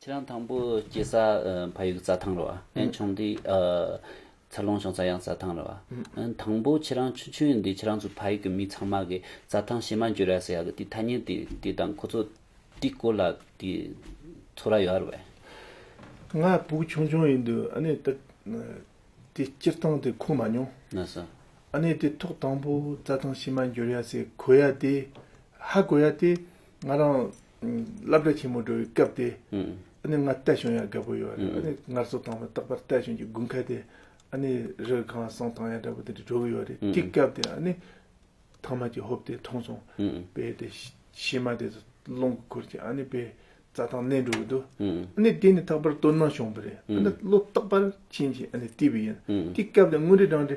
ཁྱེད་རང་དང་པོ་སྐྱེས་ས་ཕ་ཡུལ་རྩྭ་ཐང་རེད་བ། ཨན་ཆུང་དུས་འཚར་ལོངས་བྱུང་ས་ཡང་རྩྭ་ཐང་རེད་བ། ཨན་དང་པོ་ཁྱེད་རང་ཆུང་ཆུང་ཡིན་དུས་ཁྱེད་རང་ཚོ་ཕ་ཡུལ་གྱི་མི་ཚང་མ་གིས་རྩྭ་ཐང་ཕྱེ་མ་འཇོ་ར་ཟེར་ཡག་གི་དེ་ཐ་སྙད་དེ་དེ་དང་ཁོ་ཚོ་དེ་སྐོར་ལ་དེ་ཚོ་ར་ཡོད་རེད་བས། ང་བུ་ཆུང་ཆུང་ཡིན་དུས་ཨ་ནེ་དེ་དེ་སྤྱིར་བཏང་དེ་གོ་མ་མྱོང། ན་ས། ཨ་ནེ་དེ་ཐོག་དང་པོ་རྩྭ་ཐང་ཕྱེ་མ་འཇོ་ར་ཟེར་གོ་ཡ་དེ་ཧ་གོ་ཡ་དེ་ང་རང་བསླབ་གྲྭ་ཆེན་མོ་འགྲོ་བའི་སྐབས་དེ། ཨ་ནི་ང་རྟ་ཞོན་ཡག་རྒད་པོ་ཡོད་རེད་ཨ་ནི་ངར་སོ་དྭངས་མ་རྟག་པར་རྟ་ཞོན་གྱི་དགུན་ཁ་དེ། ཨ་ནི་རི་ག་གང་སང་དྭངས་ཡག་འདྲ་པོ་དེ་འདྲ་འགྲོ་གི་ཡོད་རེད་དེ་སྐབས་དེ་ཨ་ནི། ཐང་མ་གྱི་ཧོབ་དེ་མཐོང་སོང། བས་དེ་ཤེས་མ་དེ་སློང་གི་ཁུར་གྱིས་ཨ་ནི་བས་རྩྭ་ཐང་གནས་འགྲོ་གི་འདུག་ཨ་ནི་དེ་ནི་རྟག་པར་སྟོད་ནང་ཞོང་པ་རེད་ཨ་ནི་བློ་རྟག་པར་ཆེན་གྱིས་ཨ་ནི་བལྟས་པ་ཡིན་དེ་སྐབས་དེ་དངུལ་རི་སྦྲང་དེ་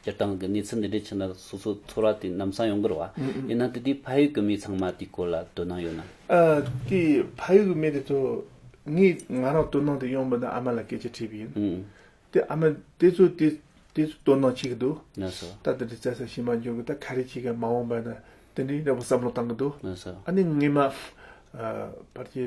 སྤྱིར་བཏང་གི་གནས་ཚུལ་འདི་འདྲའི་ཆེད་ན་སོ་སོའི་ཚོར་བ་དེ་ནམ་བསམ་ཡོང་དགོས་རེད་བ། ཡིན་ནང་དེ་དུས་ཕ་ཡུལ་གྱི་མི་ཚང་མ་དེའི་སྐོར་ལ་དོ་སྣང་ཡོད་ནམ། དེ་ཕ་ཡུལ་གྱི་མི་དེ་ཚོ་ངས་ང་རང་དོ་སྣང་དེ་ཡོང་མི་འདུག་ཨ་མ་ལ་སྐད་ཆ་དྲིས་པ་ཡིན། དེ་ཨ་མ་དེ་ཚོ་དེ་དེ་ཚོ་དོ་སྣང་བྱེད་ཀྱི་འདུག་ན་ཟོ། ད་དེ་འདྲའི་བཙལ་ས་ཞིག་མ་འབྱུང་གི་ད་ག་རེ་བྱེད་ཀྱི་མ་འོངས་པ་ན་དེ་འདྲའི་འདྲ་པོ་བསམ་བློ་བཏང་གི་འདུག་ན་ཟོ། ཨ་ནི་ངས་མ། ཕར་གྱི།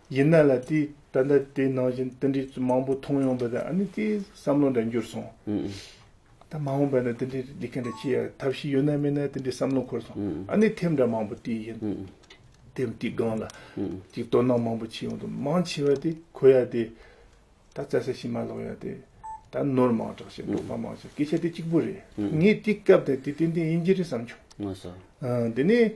ཡིན་ན་ལ་དེས་ད་ལྟ་དེ་ནང་བཞིན་དེ་འདྲའི་མང་པོ་མཐོང་ཡོང་བས་ཨ་ནི་དེའི་བསམ་བློ་འདྲ་འགྱུར་སོང། ད་མ་འོངས་པ་ན་དེ་འདྲའི་ལས་ཀ་འདྲ་བྱེད་ཡག་ཐབས་ཤེས་ཡོད་ན་མེད་ན་དེ་འདྲའི་བསམ་བློ་འཁོར་སོང། ཨ་ནི་ཐེབས་འདྲ་མང་པོ་བལྟས་ཡིན། ཐེབས་དེའི་སྒང་ལ་ཅིག་དོ་སྣང་མང་པོ་བྱེད་ཡོང་དུ་མང་ཆེ་བ་དེ་གོ་ཡ་དེ། ད་བཙལ་ས་ཞིག་མ་ལོག་ཡ་དེ། ད་ནོར་མང་དྲགས་ཤིང་དོགས་པ་མང་ཆེ་སྐད་ཆ་དེ་གཅིག་པོ་རེད། ངས་དེ་སྐབས་དེ་དེ་ཏན་ཏན་ཡིན་གྱི་རེད་བསམ་བྱུང། དེ་ནས།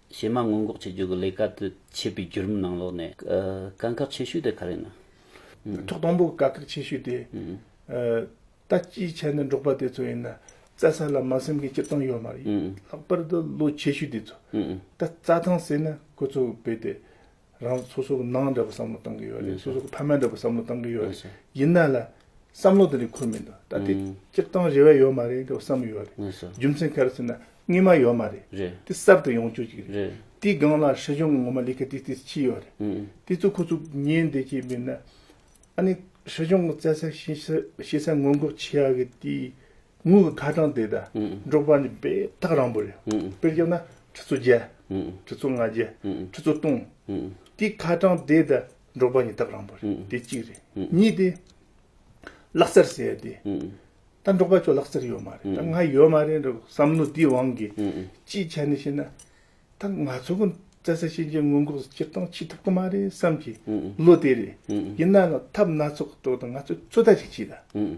གཞས་མ་སྔོན་འགོག་བྱེད་རྒྱུ་གི་ལས་ཀ་དེ་བྱེད་པའི་བརྒྱུད་རིམ་ནང་ལོགས་ནས། དཀའ་ཁག་ཆེ་ཤོས་དེ་ག་རེད་ན། ཐོག་དང་པོ་གི་དཀའ་ཁག་ཆེ་ཤོས་དེ། ལྟ་སྐྱིའི་ཆ་ནས་འབྲོག་པ་དེ་ཚོ་ཡིན་ན། རྩྭ་ས་ལ་མ་སེམས་ཀྱི་སྐྱིད་སྟངས་ཡོད་མ་རེད། ལྷག་པར་དུ་ལོ་ཆེ་ཤོས་དེ་ཚོ། ད་རྩྭ་ཐང་ཟེར་ན་ཁོ་ཚོ་བོད་དེ། རང་ཚོ་སོ་སོ་གི་ནང་འདྲ་པོ་བསམ་བློ་གཏང་གི་ཡོད་རེད་སོ་སོ་གི་ཕ་མེས་འདྲ་པོ་བསམ་བློ་གཏང་གི་ཡོད་རེད་ཡིན་ན་ལ་བསམ་བློ་དེ་རིགས་འཁོར་མི་འདུག་ད་དེ་སྤྱིར་བཏང་རེ་བས་ཡོད་མ་རེད་འདྲ་པོ་བསམ་ཡོད་རེད་རྒྱུ་མཚན་ག་རེ་ཟེར་ན་རྔན་མ་ཡོད་མ་རེད་དེ་གསར་དུ་ཡོང་བཅུག་ཅིག་རེད་དེའི་སྒང་ལ་སྲིད་གཞུང་གི་ངོ་མ་ལས་ཀ་དེ་དེ་ཕྱིས་ཡོད་རེད་དེ་ཚོ་ཁོ་ཚོ་ཉན་བསྡད་ཀྱི་མིན་ན་ཨ་ནི་སྲིད་གཞུང་གི་བཙལ་ས་ཤེས་ས་ཤེས་ས་སྔོན་འགོག་བྱེད་ཡག་གི་དེའི་དངོས་པོ་ཐ་དྲང་དེ་དང་འགྲོགས་པ་ནི་པའི་རྟགས་རང་པོ་རེད། དཔེར་བཞག་ན་ཁྲི་ཚོ་བརྒྱད། ཁྲི་ཚོ་ལྔ་བརྒྱད། ཁྲི་ཚོ་སྟོང། དེ་ཁ་དྲང་དེ་དང་འགྲོགས་པ་ནི་རྟགས་རང་པོ་རེད་དེ་གཅིག་རེད། གཉིས་དེ། ལག་རྩལ་ཟེར་དེ། ད་འགྲོགས་པ་ཁྱོད་ལག་རྩལ་ཡོད་མ་རེད་ད་ང་ཡོད་མ་རེད་འདྲ་བསམ་མནོ་དེའི་དབང་གིས་ཅི་བྱ་ནི་ཞེ་ན། ད་ང་ཚོ་གོ་བཙལ་ས་ཤེས་མཁན་སྔོན་འགོག་སྤྱིར་བཏང་བྱེད་ཐུབ་ཀྱི་མ་རེད་བསམ་གྱི་བློ་དེ་རེད། ཡིན་ནའང་ཐབས་སྣ་ཚོགས་ཀྱི་ཐོག་ཏུ་ང་ཚོས་ཚོད་ལྟ་ཞིག་བྱས་ད།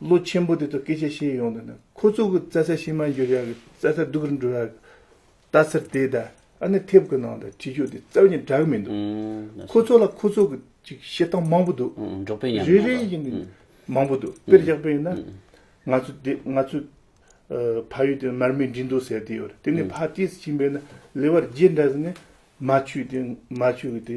བློ་ཆེན་པོ་དེ་ཚོ་སྐད་ཆ་བཤད་ཡོང་དུས་ན་ཁོ་ཚོ་གི་རྩྭ་ས་ཕྱི་མར་འགྱུར་ཡག་གི་རྩྭ་ས་སྡུག་རུ་འགྲོ་ཡག་གི་ལྟ་སར་དེ་ད་ཨ་ནི་ཐེབས་གི་ནང་ད་ཁྲིད་ཕྱོགས་དེ་རྩ་བ་ཉིད་འདྲ་གི་མི་འདུག་ཁོ་ཚོ་ལ་ཁོ་ཚོ་གི་ཅིག་བཤད་སྟངས་མང་པོ་འདུག་རེ་རེ་ཡིན་ནི་མང་པོ་འདུག་དཔེར་བཞག་པ་ཡིན་ན་ང་ཚོ་དེ་ང་ཚོ་ཕ་ཡུལ་དེ་མར་མེ་འགྲིལ་འདུག་ཟེར་དེ་ཡོད་རེད་དེ་ནས་ཕ་དེས་ཕྱིན་པས་ན་ལེ་བར་རྗེས་འདྲ་ཟེར་ནས་མ་ཆུས་དེ་མ་ཆུས་གི་དེ་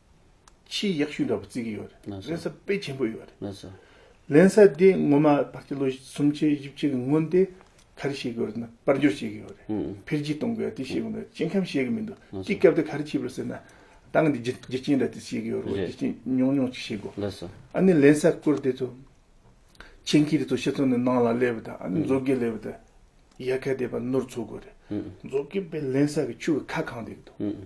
ཆེས་ཡག་ཤོས་འདྲ་པོ་བརྩི་གི་ཡོད་རེད་ལན་གསར་སྤེལ་ཆེན་པོ་ཡོད་རེད་ལན་གསར་དེ་ངོ་མ་བར་སྐྱི་ལོ་སུམ་ཆའི་བཞི་བཅུ་གི་སྔོན་དེ་ག་རེ་བྱེད་གི་ཡོད་རེད་ན་དཔལ་འབྱོར་བྱེད་གི་ཡོད་རེད་འཕེལ་རྒྱས་གཏོང་གི་ཡོད་དེ་བྱེད་གི་མེད་སྐྱེ་ཁམས་བྱེད་གི་མི་འདུག་སྐྱེ་སྐབས་དེ་ག་རེ་བྱེད་པར་ཟེར་ན་ཏང་གི་རྒྱུ་རྐྱེན་འདྲ་དེ་བྱེད་གི་ཡོད་རེད་རྒྱུ་རྐྱེན་ཉུང་ཉུང་ཅིག་བྱེད་དགོས་ལན་གསར་ཨ་ནི་ལན་གསར་བསྐུར་དེ་ཚོ་ཆེད་མཁས་དེ་ཚོ་ཤི་ཚོ་ནི་ནང་ལ་སླེབས་པ་དང་ཨ་ནི་མཛོ་དགེ་སླེབས་པ་དང་ཡལ་ག་དེ་པ་ནོར་འཚོལ་དགོས་རེད་མཛོ་དགེ་པའི་ལན་གསར་གི་ཆུ་གི་ཁ་གང་དེ་གི་འདུག།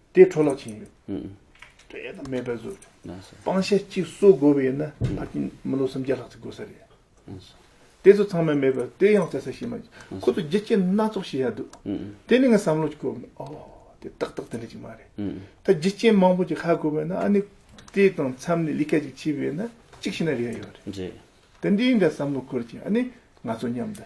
དེ་འཕྲོ་བརླག་ཕྱིན་ཡོད། དཔེ་དང་མེད་པའི་བཟོ། སྤང་བྱ་གཅིག་གསོ་དགོས་པ་ཡིན་ན་ཕར་ཕྱིན་མི་ལོ་སུམ་བརྒྱ་ལྷག་ཙི་དགོས་ས་རེད། དེ་ཚོ་ཚང་མས་མེད་པར་དེ་ཡང་བཙལ་ས་ཤེས་མ་རྒྱུ་ཁོ་ཚོ་རྒྱུ་རྐྱེན་སྣ་ཚོགས་ཤེས་ཡ་འདུག་དེ་ནི་ངའི་བསམ་བློ་གཅིག་གོ། འོ། དེ་ཏག་ཏག་དེ་འདྲ་ཅིག་མ་རེད། ད་རྒྱུ་རྐྱེན་མང་པོ་ཅིག་ཧ་དགོས་པ་ན་ཨ་ནི་དེ་དང་མཚམས་ལས་ལི་ཁ་ཅིག་ཕྱིས་པས་ན་གཅིག་ཤི་ན་རེ་ཡོད་རེད། དེ་འདི་འདྲ་བསམ་བློ་འཁོར་ཅིག་ཨ་ནི་ང་ཚོ་མཉམ་དུ།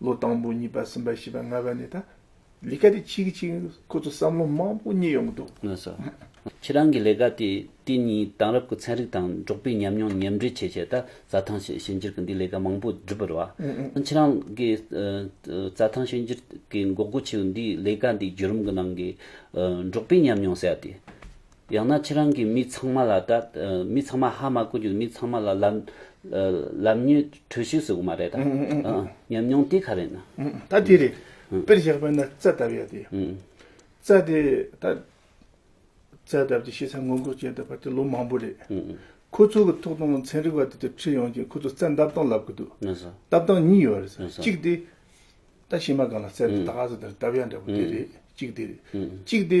ལོ་དང་པོ་གཉིས་པ་གསུམ་པ་བཞི་པ་ལྔ་པ་ནས་ད་ལི་ཀ་དེ་ཆིག་ཆིག་ཁོ་ཚོ་བསམ་བློ་མང་པོ་རྙེད་ཡོང་གི་འདུག། ངོས་སུ། ཁྱེད་རང་གི་ལས་ཀ་དེ་དེ་ཉིད་དེང་རབས་ཀྱི་ཚན་རིག་དང་འབྲོག་པའི་ཉམས་མྱོང་ཉམས་འདྲེས་བྱས་བྱས་ད་རྩྭ་ཐང་ཞིག་བྱེད་འགྱུར་གྱི་འདི་ལས་ཀ་མང་པོ་འགྲུབ་པར་བ། ཁྱེད་རང་གི་རྩྭ་ཐང་བྱེད་འགྱུར་གྱི་འགོག་རྒོལ་ཆེ་བའི་འདི་ལས་ཀ་འདི་བརྒྱུད་རིམ་གྱི་ནང་གི་འབྲོག་པའི་ཉམས་མྱོང་གསལ་ཏེ། ཡང་ན་ཁྱེད་རང་གིས་མི་ཚང་མ་ལ་དང། མི་ཚང་མ་ཧ་མ་གོ་རྒྱུ་མི་ཚང་མ་ལ་ལབ། ལབ་ཉོས་གྲོས་ཞུས་ཟེར་གི་མ་རེད་ད། ཉམས་མྱོང་དེ་ག་རེད་ན། ད་དེ་རེད། དཔེར་བཞག་པ་ན་རྩ་བཏབ་ཡ་དེ། རྩ་དེ་ད། རྩ་བཏབ་དེ་ཤེས་ཚད་སྔོན་འགོག་བྱས་ད་བར་དེ་ལོ་མང་པོ་རེད། ཁོ་ཚོ་གི་ཐོག་དང་ཚན་རིག་བ་དེ་དེར་ཁྲིད་ཡོང་ཅིང་ཁོ་ཚོ་རྩ་འདབ་སྟངས་ལབ་གི་འདུག། འདབ་སྟངས་གཉིས་ཡོད་རེད། གཅིག་དེ། ད་ཕྱི་མ་གང་ལ་རྩ་དེ་ད་ག་ཟེ་དེར་བཏབ་ཡ་འདྲ་པོ་དེ་རེད། གཅིག་དེ་རེད། གཅིག་དེ།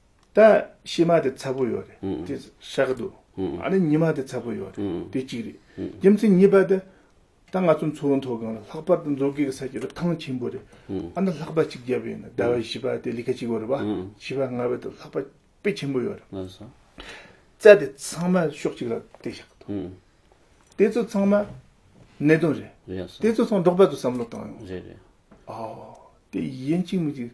ད་ཕྱི་མ་དེ་ཚ་པོ་ཡོད་རེད་དེ་བཤད་གི་འདུག་ཨ་ནི་ཉི་མ་དེ་ཚ་པོ་ཡོད་རེད་དེ་གཅིག་རེད་རྒྱུ་མཚན་གཉིས་པ་དེ་ད་ང་ཚོ་མཚོ་བོད་མཐོ་སྒང་ལ་ལྷག་པར་དུ་མཛོ་དགེ་གི་ས་ཆ་རུ་ཐང་ཆེན་པོ་རེད་ཨ་ན་ལྷག་པ་གཅིག་བརྒྱབ་ཡོད་ན་ཟླ་བ་བཞི་པ་དེ་ལི་ཁ་གཅིག་བོ་རེད་བ་བཞི་པ་ལྔ་བ་དེ་ལྷག་པ་དཔེ་ཆེན་པོ་ཡོད་རེད་རྩྭ་དེ་ཚང་མ་ཕྱོགས་གཅིག་ལ་དེ་བཤད་གི་འདུག་དེ་ཚོ་ཚང་མ་གནད་དོན་རེད་དེ་ཚོ་ཚང་མ་འབྲོག་པ་ཚོ་བསམ་བློ་བཏང་ཡོང་རེད་རེད་ཨོ་དེ་ཡིན་གཅིག་མིན་གཅིག་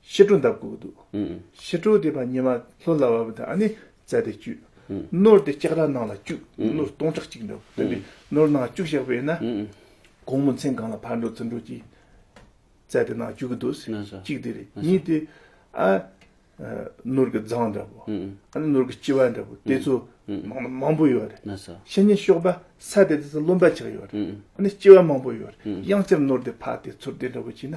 ཕྱི་དྲོ་འདབ་བཀུག་དུ། ཕྱི་དྲོ་དེ་བར་ཉི་མ་ལྷོད་ལ་བབ་དང་ནི་བཙལ་ཏེ་བཅུག། སྣོད་དེ་ལྕགས་ར་ནང་ལ་བཅུག་སྣོད་སྟོང་ཕྲག་གཅིག་འདུག་དེ་འདྲའི་སྣོད་ནང་བཅུག་བཞག་པས་ན། གོང་མོ་མཚན་གང་ལ་ཕར་འགྲོ་ཚུར་འགྲོ་གྱིས། བཙལ་ཏེ་ནང་བཅུག་གི་འདུག་གཅིག་དེ་རེད་གཉིས་དེ། སྣོད་ཀྱི་རྫང་འདྲ་བོ། སྣོད་ཀྱི་ལྕི་བ་འདྲ་བོ་དེ་ཚོ་ནང་ན་མང་པོ་ཡོད་རེད། ཕྱི་ཉིན་ཤོག་པ་ས་དེ་དེ་ཚོ་རློན་པ་ཆགས་ཡོད་རེད། ལྕི་བ་མང་པོ་ཡོད་རེད་དབྱངས་ཅན་སྣོད་དེ་ཕར་དེ་ཚུར་དེ་འདྲ་བོ་བྱས་ན།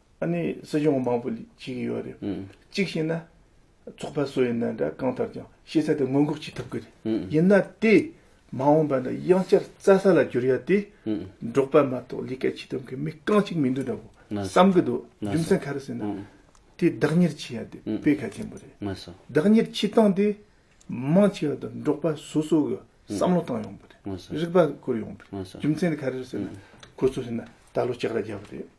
ཨ་ནི་སྲིད་སྐྱོང་མང་པོ་བྱེད་ཀྱི་ཡོད་རེད། གཅིག་བྱས་ན། ཚོགས་པ་སུ་ཡིན་ན་འདྲ་གང་ལྟར་ཀྱང་ཤེས་ཚད་དེ་སྔོན་འགོག་བྱེད་ཐུབ་ཀྱི་རེད། ཡིན་ན་དེ་མ་འོངས་པ་ན་དབྱང་ཅར་རྩྭ་ས་ལ་འགྱུར་ཡ་དེ་འབྲོག་པ་མ་གཏོགས་ལས་ཀ་བྱེད་ཐུབ་མཁན་མི་རྐང་གཅིག་མི་འདུག་འདྲ་བོ་བསམ་གྱི་འདུག་རྒྱུ་མཚན་ག་རེ་ཟེར་ན། དེ་བདག་གཉེར་བྱེད་ཡ་དེ་དཔེ་གལ་ཆེན་པོ་རེད། བདག་གཉེར་བྱེད་སྟངས་དེ་མང་ཆེ་བ་དང་འབྲོག་པ་སོ་སོ་གི་བསམ་བློ་བཏང་ཡོང་པ་རེད། རིག་པ་བསྐུར་ཡོང་པ་རེད། རྒྱུ་མཚན་ག་རེ་ཟེར་ན། ཁོ་ཚོ་བྱས་ན་ད་ལོ་ལྕགས་ར་རྒྱག་གི་རེད།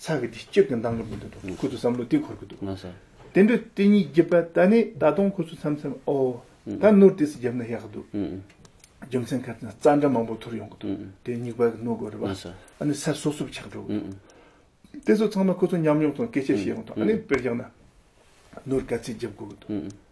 ཚ་གི་དེ་སྐྱོད་ཀྱི་མདང་དགོས་འདུག་འདུག་ཁོ་ཚོ་བསམ་བློ་དེ་འཁོར་གི་འདུག་དེ་འདྲ་དེ་གཉིས་བརྒྱབ་པ་ད་ནི་ད་དུང་ཁོ་ཚོ་མཚམས་མཚམས་ཨོ། ད་སྣུར་དེ་སི་བརྒྱབ་ན་ཡག་གི་འདུག་རྒྱུ་མཚན་ཁ་ཚ་རྩ་འདྲ་མང་པོ་ཐོར་ཡོང་གི་འདུག་དེ་སྙིགས་བར་གི་སྣུར་དགོས་རེད་པ་ཨ་ནི་ས་སོབ་སོབ་ཆགས་འགྲོ་གི་འདུག་དེ་ཚོ་ཚང་མ་ཁོ་ཚོ་མཉམ་ཡོང་དང་སྐད་ཆ་བཤད་ཡོང་དང་ཨ་ནི་དཔེར་བཞག་ན། སྣུར་ག་ཚད་བརྒྱབ་དགོས་གི་འདུག་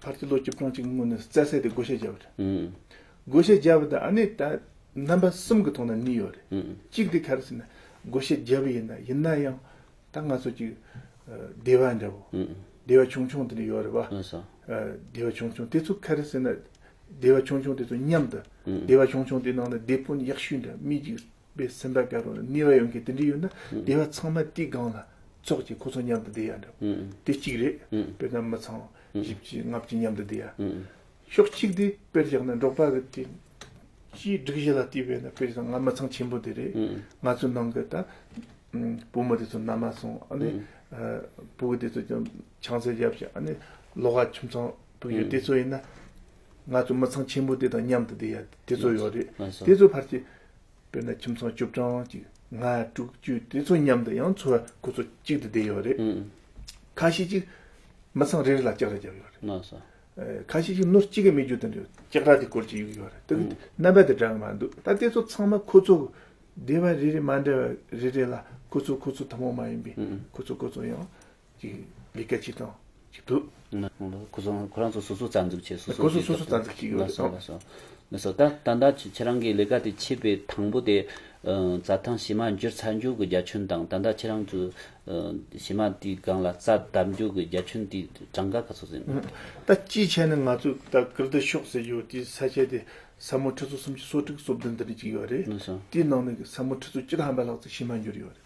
ཕར་ཚུར་ལོ་བཅུ་གྲངས་ཅིག་སྔོན་ནས་རྩྭ་བསྲེགས་ཏེ་བགོ་བཤའ་བརྒྱབ་པ་རེད། བགོ་བཤའ་བརྒྱབ་པ་དང་ནི་ད་རྣམ་པ་གསུམ་གྱི་ཐོག་ནས་གཉིས་ཡོད་རེད། གཅིག་དེ་ག་རེ་ཟེར་ན་བགོ་བཤའ་བརྒྱབ་པ་ཡིན། ཡིན་ན་ཡང་ད་ང་ཚོ་ཅིག་སྡེ་བ་འདྲ་བོ། སྡེ་བ་ཆུང་ཆུང་དེ་འདྲ་ཡོད་རེད་བ། སྡེ་བ་ཆུང་ཆུང་དེ་ཚོ་ག་རེ་ཟེར་ན་སྡེ་བ་ཆུང་ཆུང་དེ་ཚོ་མཉམ་དུ་སྡེ་བ་ཆུང་ཆུང་དེ་ནང་ན་སྡེ་དཔོན་ཡག་ཤོས་འདྲ་མི་གཅིག་པའི་སེམས་པ་ག་རུང་ན་ནུས་བ་ཡོད་མཁན་དེ་འདྲ་ཡོད་ན་སྡེ་བ་ཚང་མ་དེའི་སྒང་ལ་ཙོག་ཅིག་ཁོ་ཚོ་མཉམ་དུ་བསྡད་ཡ་འདྲ་བོ། དེ་གཅིག་རེད། དཔེར་ན་མི་ཚང་བཞི་བཅུའི་ལྔ་བཅུ་མཉམ་དུ་བསྡུ་ཡ། ཕྱོགས་གཅིག་དེ་དཔེར་བཞག་ན་འབྲོག་པ་རིགས་དེ་སྤྱིའི་སྒྲིག་གཞི་ལ་བལྟས་པས་ན་དཔེར་བཞག་ན་ང་མི་ཚང་ཆེན་པོ་དེ་རེད། ང་ཚོའི་ནང་གི་ད་བུ་མོ་དེ་ཚོ་མནའ་མ་སོང་ཨ་ནི་བུ་དེ་ཚོ་ཀྱང་ཆང་ཚད་བརྒྱབ་ཅིང་ཨ་ནི་ལོ་ག་ཁྱིམ་ཚང་དུ་ཡོད་དེ་ཚོ་ཡིན་ན། ང་ཚོ་མི་ཚང་ཆེན་པོ་དེ་དང་མཉམ་དུ་བསྡད་ཡ་དེ་ཚོ་ཡོད་རེད། དེ་ཚོའི་བར་གྱི་དཔེར་ན་ཁྱིམ་ཚང་བཅུ་གྲངས་ཀྱི་ང་དྲུག་བཅུ་དེ་ཚོ་མཉམ་དུ་ཡང་འཚོ་བ་གོ་ཚོད་གཅིག་ཏུ་བསྡད་ཡོད་རེད། ཁ་ཤས་ཀྱིས་མི་ཚང་རེ་རེ་ལ་ལྕགས་ར་བརྒྱབ་ཡོད་རེད། ཁ་ཤས་ཀྱིས་ནོར་གཅིག་གི་མི་རྒྱུ་དེ་འདྲའི་ལྕགས་ར་དེ་སྐོར་གྱི་ཡོད་རེད། དེ་གི་རྣམ་པ་དེ་འདྲ་གི་མ་འདུག་ད་དེ་ཚོ་ཚང་མ་ཁོ་ཚོ་གི་སྡེ་བ་རེ་རེ་མ་འདྲ་བ་རེ་རེ་ལ་ཁོ་ཚོ་ཁོ་ཚོ་ཐུན་མོང་མ་ཡིན་པའི་ཁོ་ཚོ་ཁོ་ཚོ་ཡང་ཀྱི་ལས་སྐལ་གཅིག་དང་གཅིག་འདུག། ཁོ་ཚོ་ཁོ་རང་ཚོ་སོ་སོ་རྩ་འཛུགས་བྱས་སོ་སོ་གཅིག་རྩ་འཛུགས་བྱས་ཡོད་ལ་སོ། མི་སོ། ད་ད་ལྟ་ཁྱེད་རང་གི་ལས་ཀ་དེ་ཆད་པའི་དང་པོ་དེ། རྩྭ་ཐང་བྱེ་མ་འགྱུར་ཚར་འགྱུར་གྱི་རྒྱ་ཁྱོན་དང་ད་ལྟ་ཁྱེད་རང་ཚོས། བྱེ་མ་དེའི་སྒང་ལ་རྩྭ་བརྡབས་འགྱུར་གྱི་རྒྱ་ཁྱོན་དེའི་གྲངས་ཀ་ག་ཚོད་ཟིན་ཡོད། ད་ཅིའི་ཆ་ནས་ང་ཚོས་ད་གར་དེ་ཤོག་ཟེར་ཡོད་དེའི་ས་ཆ་དེ་ས་མོ་ཁྲི་ཚོ་སུམ་ཅུ་སོ་དྲུག་སོ་བདུན་དེ་འདྲ་གཅིག་ཡོད་རེད། དེའི་ནང་ནས་ས་མོ་ཁྲི་ཚོ་བཅུ་དང་ཧམ་པ་ལྷག་ཙམ་བྱེ་མ་འགྱུར་ཡོད་རེད།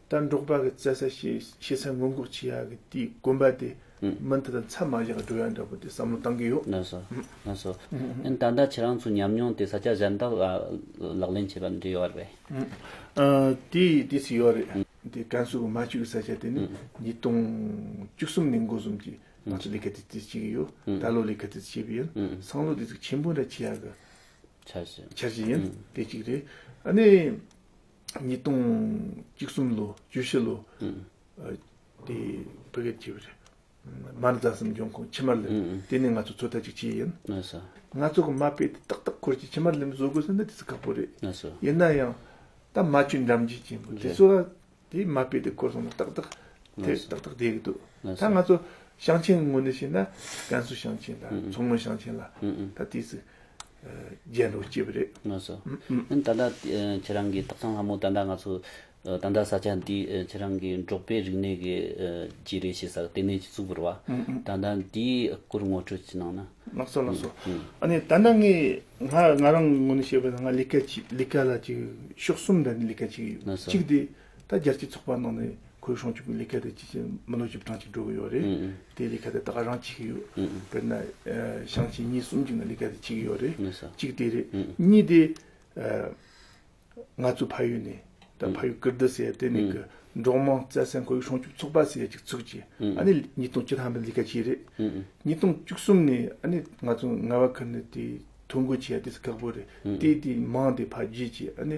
ལྟར་འབྲོག་པ་གི་བཙལ་ས་ཞེས་ཤེས་ཚད་སྔོན་འགོག་བྱེད་ཡག་གི་དེའི་དགོན་པ་དེ་མི་འདི་དང་ཚད་མ་བཞག་འགྲོ་ཡག་འདྲ་པོ་དེ་བསམ་བློ་བཏང་གི་ཡོད། ན་སོ། ན་སོ། ཨན་ད་ལྟ་ཁྱེད་རང་ཚོའི་ཉམས་མྱོང་དེ་ས་སྐྱ་གཞན་དག་ལ་ལག་ལེན་བྱེད་པ་འདི་ཡོད་རེད། དེ་དེ་ཚོ་ཡོད་རེད། དེ་ཀན་སུའུ་གི་མ་ཅུའུ་ས་སྐྱ་དེ་ནི་ཉིས་སྟོང་བཅུ་གསུམ་ནས་འགོ་གསུམ་གྱི་ང་ཚོ་ལས་ཀ་དེ་དེ་བྱེད་ཀྱི་ཡོད། ད་ལོ་ལས་ཀ་དེ་ཚོ་བྱེད་པ་ཡིན། སང་ལོ་དེ་ཚོ་ཆེན་པོ་འདྲ་བྱེད་ཡག་གི། འཆར་གཞི། འཆར་གཞི་ཡིན། དེ་གཅིག་རེད། ཨ་ནི། ཉིས་སྟོང་བཅུ་གསུམ་ལོ་བཅུ་བཞི་ལོ་དེ་བོད་སྐད་བྱེད་པ་རེད། མར་རྫ་གསུམ་འབྱུང་ཁུངས་ཕྱི་མར་ལེན་དེ་ནི་ང་ཚོ་ཚོད་ལྟ་ཅིག་བྱས་ཡིན། ང་ཚོ་གི་མ་དཔེ་དེ་ཏག་ཏག་ཁོར་གྱིས་ཕྱི་མར་ལེན་བཟོ་དགོས་ཟེར་ན་དེ་ཚོ་ཁག་པོ་རེད། ཡིན་ན་ཡང་ད་མ་བཅོས་འགྲམ་བརྗིད་ཅན་པོ་དེ་ཚོ་ལ་དེའི་མ་དཔེ་དེ་ཁོར་སོང་ན་ཏག་ཏག་དེ་ཏག་ཏག་བསྡད་གི་འདུག་ད་ང་ཚོ་ཞིང་ཆེན་ངོས་ནས་བཤད་ན་ཀན་སུའུ་ཞིང་ཆེན་ལ་མཚོ་སྔོན་ཞིང་ཆེན་ལ་ད་དེའི་ཚོད། རྗེས་འགྲོ་སྐྱེས་པ་རེད། ངོས་སུ། ད་ལྟ་ཁྱེད་རང་གི་དག་གཙང་ལྷ་མོ་ད་ལྟ་ང་ཚོ་ད་ལྟ་ས་ཆ་འདི་ཁྱེད་རང་གི་འབྲོག་པའི་རིག་གནས་ཀྱི་རྗེས་རེས་བྱེད་ས་ལྟེ་གནས་ཀྱི་གཙུག་བོར་བ། ད་ལྟ་འདིའི་སྐོར་ངོ་སྤྲོད་ཅིག་གནང་ན། ལགས་སོ་ལགས་སོ། ཨ་ནི་ད་ལྟ་ངས་ང་རང་ངོ་ནས་བཤད་པ་ན་ང་ལི་ཀ་ལ་ཅིག་ཤོག་གསུམ་ལྡན་ལི་ཀ་ཅིག་ཡོད། གཅིག་དེ་ད་རྒྱལ་སྤྱིའི་ཚོགས་པ་ནང་ནས་ཁོའི་སྲུང་སྐྱོབ་ཀྱི་ལས་ཀ་དེ་ཇི་བཞིན་མི་ལོ་བཞི་བཅུ་གྲངས་ཅིག་འགྲོ་གི་ཡོད་རེད། དེའི་ལས་ཀ་དེ་ད་ག་རང་བྱེད་ཀྱི་ཡོད། དཔེར་ན། ཞང་ཆེན་གཉིས་གསུམ་ཅིག་ནས་ལས་ཀ་དེ་བྱེད་ཀྱི་ཡོད་རེད། གཅིག་དེ་རེད། གཉིས་དེ། ང་ཚོའི་ཕ་ཡུལ་ནས་ད་ཕ་ཡུལ་ཀིར་རྡི་ཟེར་དེ་ནས་ཀྱི་འབྲོག་དམངས་བཙལ་སའི་ཁོའི་སྲུང་སྐྱོབ་ཚོགས་པ་ཟེར་ཡ་ཅིག་ཚུགས་རྗེས་ཨ་ནི་ཉིས་སྟོང་བཅུ་ལྷག་མའི་ལས་ཀ་བྱས་རེད། ཉིས་སྟོང་བཅུ་གསུམ་ནས་ཨ་ནི་ང་ཚོ་ངལ་བ་ཁུར་ནས་དེ་ཐོ་འགོད་བྱས་ཡ་དེ་སུ་ཁག་པོ་རེད། དེའི་དེའི་མང་དེ་ཕ་རྒྱུད་ཀྱི་ཨ་ནི།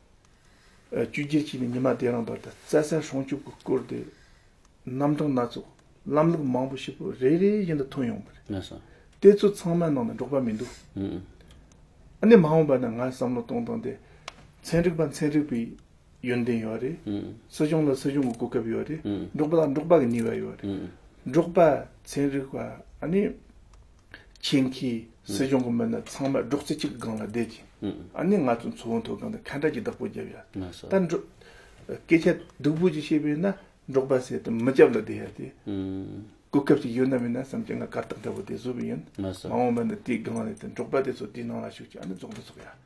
བཅུ་རྒྱལ་སྤྱི་ནས་ཉི་མ་དེ་རང་བར་དུ་རྩྭ་སའི་སྲུང་སྐྱོབ་ཀྱི་སྐོར་དེ་རྣམ་གྲངས་སྣ་ཚོགས་ལམ་ལུགས་མང་པོ་ཞིག་པོ་རེ་རེ་བཞིན་དུ་ཐོན་ཡོང་གི་རེད། ངེས་སོ། དེ་ཚོ་ཚང་མའི་ནང་ནས་འགྲོགས་པ་མི་འདུག། ཨ་ནི་མ་འོངས་པ་ནས་ང་བསམ་བློ་གཏོང་སྟངས་དེ། ཚན་རིག་པ་ཚན་རིག་པའི་ཡོན་ཏན་ཡོད་རེད། སྲིད་གཞུང་ལ་སྲིད་གཞུང་གི་གོ་སྐབས་ཡོད་རེད། འགྲོགས་པ་ལ་འགྲོགས་པ་གི་ནུས་པ་ཡོད་རེད། འགྲོགས་པ་ཚན་རིག་པ་ཨ་ནི། ཁྱེད་ཀྱིས་སྲིད་སྐྱོང་གི་མི་སྣ་ཚང་མ་སྒྲོག་ཙེ་གཅིག་གི་སྒང་ལ་བསྡད་ཅིང་ཨ་ནི་ང་ཚོ་མཚོ་བོད་མཐོ་སྒང་དུ་ཁ་འབྲལ་གྱི་བདག་པོ་བརྒྱབ་ཡ་ད་འགྲོ། སྐད་ཆ་སྡུག་པོ་ཅིག་བཤད་པས་ན་འབྲོག་པ་ཟས་དང་མི་སྐྱབས་ལ་བསྡད་ཡ་སྟེ། གོ་སྐབས་ཅིག་ཡོད་ན་མེད་ན་བསམ་གྱི་ང་གར་སྟེགས་འདྲ་བོ་དེ་བཟོས་པ་ཡིན། མ་འོངས་པ་ན་དེའི་སྒང་རེད་དེ་འབྲོག་པ་དེ་ཚོ་དེའི་ནང་ལ་ཞུགས་ཀྱིས་ཨ་ནི་རྫོགས་འདི་ཚོགས་ཡ།